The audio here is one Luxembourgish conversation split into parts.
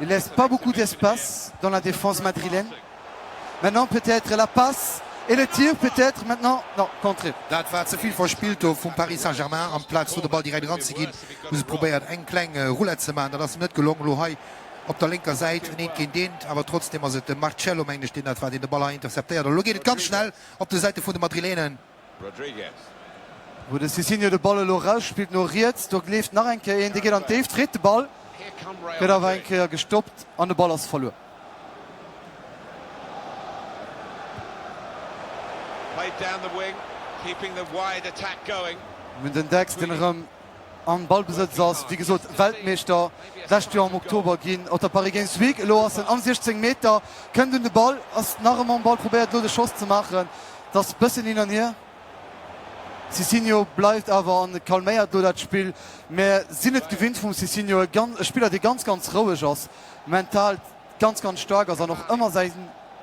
Il laisse pas beaucoup d'espace dans la défense madrilène. Maintenant peut-être la passe et le tir peut-être maintenant non contré. Dat war ze vill verspillt do vum Paris Saint-Germain. Amplaz do de Ball direkt eran ze ginn, hu se probéiert eng kleng Roulette ze maachen. Dat ass net gelong. Elo hei op der lénker Säit en eent géint eent, awer trotzdem ass et de Marcello mengen ech deen dat war, deen de Ball hei interceptéiert. An elo geet et ganz schnell op de Säite vun de Madrileenen. Rodrigues. Wou de Cicinho de Ball elo erausspillt no riets, do leeft nach eng Kéier een, dee geet an d'Déift, freet de Ball, gëtt awer eng Kéier gestoppt an de Ball ass verluer. Mir hunn den Dex, deen erëm Am Ballbesëtz ass, wéi gesot, Weltmeeschter d'lescht Joer am Oktober ginn op der Paris Games Week. Elo ass en am 16 Meter, kënnt un de Ball, ass nach ëmmer um Ball, probéiert elo de Schoss ze maachen. Et ass bëssen hin an hier. Cicinho bleift awer an calméiert elo dat Spill. Mir sinn et gewinnt vum Cicinho, e gan, e Spiller dee ganz, ganz roueg ass, mental ganz, ganz staark ass an och ëmmer säi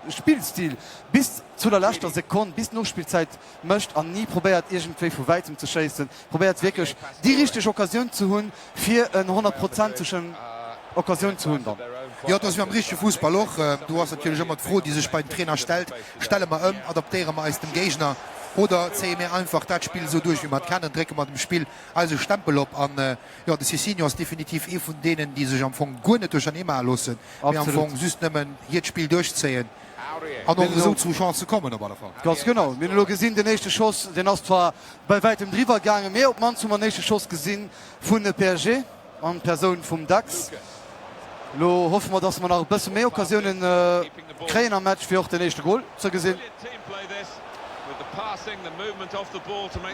Spillstil bis zu der leschter Sekonn, bis d'Nospillzäit, mécht an ni probéiert iergendwéi vu wäitem ze schéissen, probéiert wierklech déi richteg Occasioun ze hunn fir en honnertprozentegen Occasioun ze hunn dann. Jo, et ass wéi am richtege Fussball och. Do ass natierlech ëmmer d'Fro déi sech bei den Trainer stellt, stelle mer ëm, adaptéiere mer eis dem Géigner oder zéie mir einfach dat Spill esou duerch wéi mer et kennen, drécke mer dem Spill eise Stempel op an jo, de Cicinho ass definitiv ee vun deenen déi sech am Fong guer net duerchernee maache loossen, mee am Fong just nëmmen hiert Spill duerchzéien. An och esou zu Chancë kommen op alle Fall. Ganz genau. Mir hunn elo gesinn, den éischte Schoss, deen ass zwar bäi wäitem driwwer gaangen, mee op d'mannst hu mer en éischte Schoss gesi vun de PSG an d'Persoun vum Dax. Elo hoffe mer, dass mer nach e bësse méi Occasiounen kréien am Match, fir och den éischte Gol ze gesinn.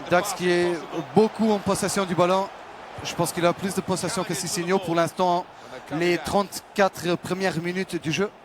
Dax qui est beaucoup en possession du ballon. Je pense qu'il a plus de possession que Sissigno pour l'instant, les 34 premières minutes du jeu.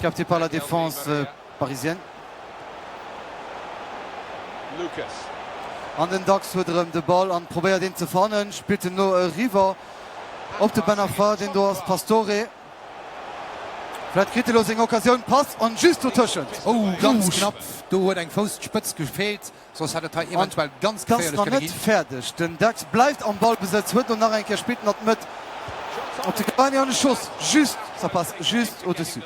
Capté par la défense parisienne. Lucas. An den Dax huet erëm de Ball an probéiert een ze fannen, spillt en elo eriwwer op de Ben Arfa, deen do ass, Pastore. Vläit kritt e lo seng Occasioun, Pass an just dotëschent. Ouh, ganz knapp, do huet eng Fousspëtz gefeelt. Soss hätt et hei eventuell ganz geféierlech kënne ginn. Ganz nach net fäerdeg, den Dax bleift am Ballbesëtz, huet elo nach eng Kéier, spillt en an d'Mëtt op de Cavani an de Schoss just, sa passe juste au-dessus.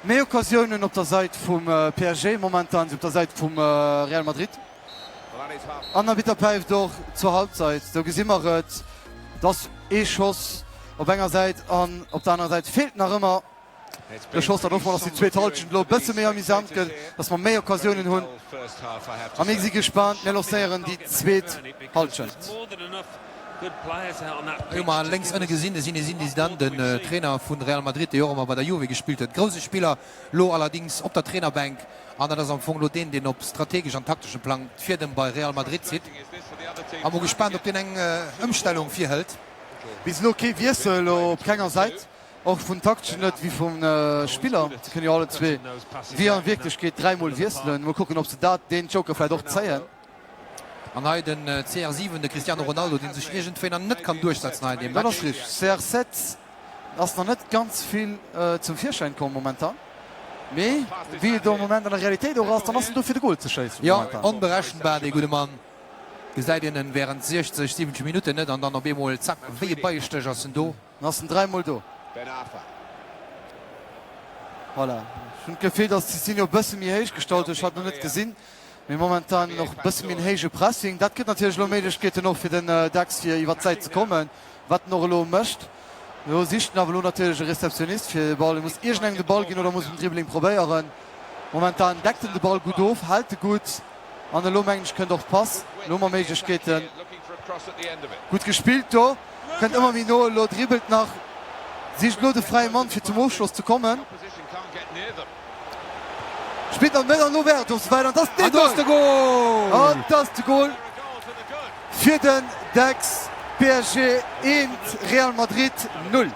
Méi Occasiounen op der Sait vum PSG momentan wéi op der Sait vum Real Madrid. An Arbitter päift och zur Halbzeit, do gesi mer et, dass ee Schoss op enger Sait an op der anerer Sait feelt nach ëmmer. De Schoss dann och mol, dass déi zweet Halschent elo e bësse méi amusant gëtt, dass mer méi Occasiounen hunn a mir si gespaant. Mir lancéieren déi zweet Halschent. Elo hu mer lénks ënne gesinn de Zinézine Zidane, den Trainer vu Real Madrid, dee jo och emmer bei der Juve gespillt huet. Grousse Spiller, elo allerdings op der Trainerbänk an dat ass am Fong elo deen, deen op strategesch an takteschem Plang d'Fiedem bei Real Madrid zitt a mer gespaant, ob deen eng Ëmstellung virhëlt. Bis elo kee Wiessel op kenger Säit. Och vun takteschen net wéi vu Spiller, se kënne jo allezwee wéi a Wierklechkeet dräi Mol wiesselen. Mol kucken, ob se dat, deen Joker vläicht och zéien. An hei den CR7, de Cristiano Ronaldo, dee sech iergendwéi nach net kann duerchsetzen hei an deem Match. Dat ass richteg, CR7 ass nach net ganz vill zum Virschäin komm momentan, mee wéi et am Moment an der Realitéit och ass, dann ass en do fir de Gol ze schéissen momentan. Jo, onberechenbar dee gudde Mann. Gesäit een en wärend 60, 70 Minutten net an dann op eemol, zack, wéi e Beiestéch ass en do. En ass den 3 mol do. Ben Arfa. Voilà. Ech hunn d'Gefill, datt Cicinho e bësse méi héich gestallt huet. Ech hat et nach net gesinn. Mee momentan och e bësse méi en héije Pressing. Dat gëtt natierlech elo Méiglechkeeten och fir den Dax fir iwwert d'Säit ze kommen, wat en och elo mécht. Elo sicht en awer elo natierlech e Receptionnist fir de Ball. E muss iergendengem de Ball ginn oder muss en Dribbling probéieren. Momentan deckt en de Ball gutt of, hält e gutt. An elo mengen ech kënnt och d'Pass. Elo hu mer Méiglechkeeten. Gutt gespillt do. Kënnt ëmmer méi no elo. Dribbelt nach. Sicht elo de fräie Mann fir zum Ofschloss ze kommen. Spillt an d'Mëtt an elo wär et och souwäit. An et ass dee Goal! An et ass de Goal fir den Dex. PSG 1, Real Madrid 0.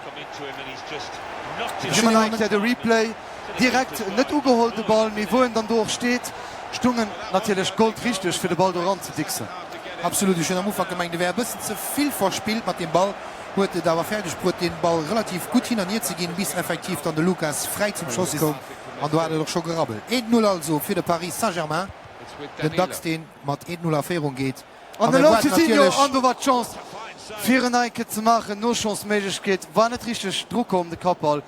Gesi mir nach eng Kéier de Replay. Direkt net ugeholl de Ball, mee wou en dann do och steet, stung en natierlech goldrichteg fir de Ball do eran ze dicksen. Absolut, ech hunn am Ufank gemengt e wär e bëssen ze vill verspillt mat deem Ball, huet et awer fäerdeg bruet deen Ball relativ gutt hin an hier ze ginn, bis effektiv dann de Lucas fräi zum Schoss koum an do hat et och scho gerabbelt. Eent Null also fir de Paris Saint-Germain, den Dax deen mat Eent Null a Féierung geet an elo huet natierlech. An do war d'Chance fir en Eike ze maachen, Nosschossméiglechkeet, war net richteg dru komm de Kappball.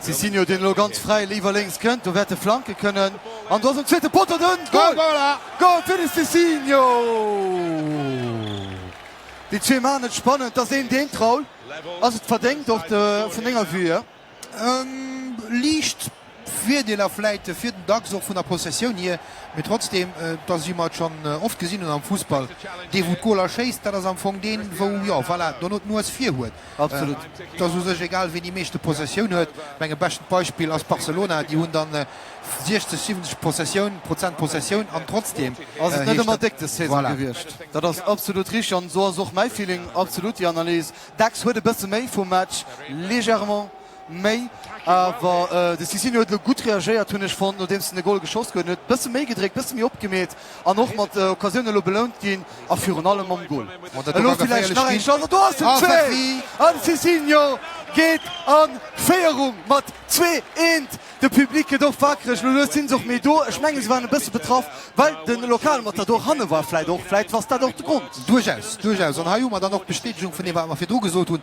Si sinn jo deen elo ganz fräi liwwer lénks kënnt, do wäerte Flanke kënnen an do ass um zweete Poteau den Goal! Goal fir de Cicinho! Déi zwee maachen et spannend, dass een deen traul. Ass et verdéngt och de vun denger Vue hier? Liicht Virdeeler vläit fir den Dachs och vun der Possessioun hier, mee trotzdem, dass wéi mer et schonn oft gesinn hunn am Fussball, dee wou d'Goaler schéisst, dat ass am Fong deen wou, jo voilà, dono d'Nues vir huet. Absolut. Et ass u sech egal, wien déi meeschte Possessioun huet. Ech mengen, bescht Beispill ass Barcelona. Déi hunn dann 60, 70 Possessioun, Prozent Possessioun an trotzdeem ass et net ëmmer déck des Saison gewiescht. Voilà. Dat ass absolut richtig an esou ass och mäi Feeling. Absolut déi Analys. Dacks huet e bësse méi vum Match, légèrement. Méi awer de Cicinho huet elo gutt reagéiert, hunn ech fonnt, nodeems en de Gol geschoss goen huet. Bësse méi gedréckt, bësse méi opgemeet an och mat Occasioune elo belount ginn a virun allem mam Gol. Elo villäicht nach eng Chance an do ass den Zwee! An de Cicinho geet an Féierung mat zwee eent. De Public gëtt och wakereg, elo lues sinn se och méi do. Ech mengen, se waren e bësse betraff, well de Lokalmatador hanne war. Vläicht och, vläicht ass dat och de Grond. Duerchaus, duerchaus. An hei hu mer dann och d'Bestätegung vun deem, wat mer virdru gesot hunn.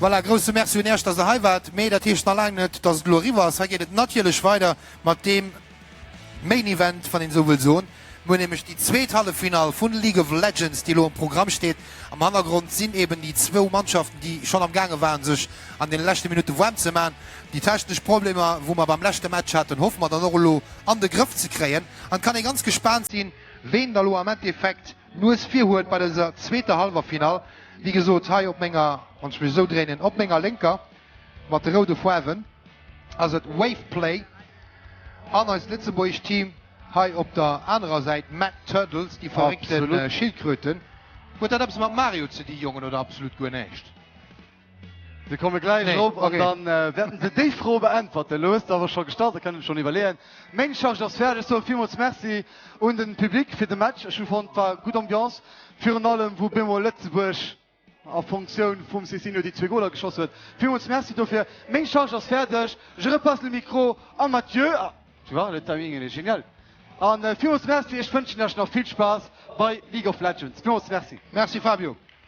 Voilà, grousse Merci un Iech, dass der hei waart. Mee dat heescht nach laang net, dass et elo eriwwer ass. Hei geet et natierlech weider mat deem Main Event, wann een esou wëll soen. Mir hunn nämlech déi zweet Halleffinall vu League of Legends, déi elo um Programm steet. Am Hannergrond sinn eeben déi zwou Mannschaften, déi schonn am gaange waren, sech an deene leschte Minutte waarm ze man. Déi technesch Problemer, wou mer beim leschte Match haten, hoffe mer dann och elo an de Grëff ze kréien. An et kann ee ganz gespaant sinn, ween da lo am Endeffekt d'Nues vir huet bei dëser zweeter Hallwerfinall. Wéi gesot, hei op menger, wann ech mech esou dréinen, op menger Lénker, mat de roude Foarwen, ass et Waveplay. An eist lëtzebuergescht Team hei op der anerer Säit, Mad Turtles, déi verréckte Schildkröten. Huet dat eppes mat Mario ze di, Jongen, oder absolut guer näischt? Mir komme gläich erop an da wäerte se déi Fro beäntwerten. Elo hues de awer scho gestallt, da kënnen ech schonn iwwerleeën. Meng Charge ass fäerdeg. Ech soe villmools Merci un de Public fir de Match. Ech hu fonnt, et war gutt Ambiance. Virun allem, wou bemol Lëtzebuerg a Funktioun vum Cicinho déi zwee Goler geschoss huet. Villmools Merci dofir. Meng Charge ass fäerdeg. Je repasse le micro à Mathieu. Ah, tu vois, le timing il est génial. A villmools Merci. Ech wënschen lech nach vill Spaass bei League of Legends. Villmools Merci. Merci Fabio.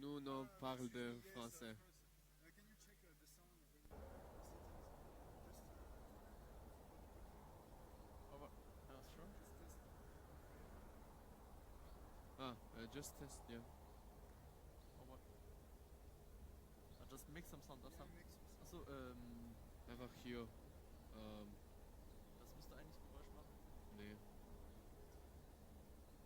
Nous no parle de français. Ah euh just test yeah. Einfach jo ähm nee.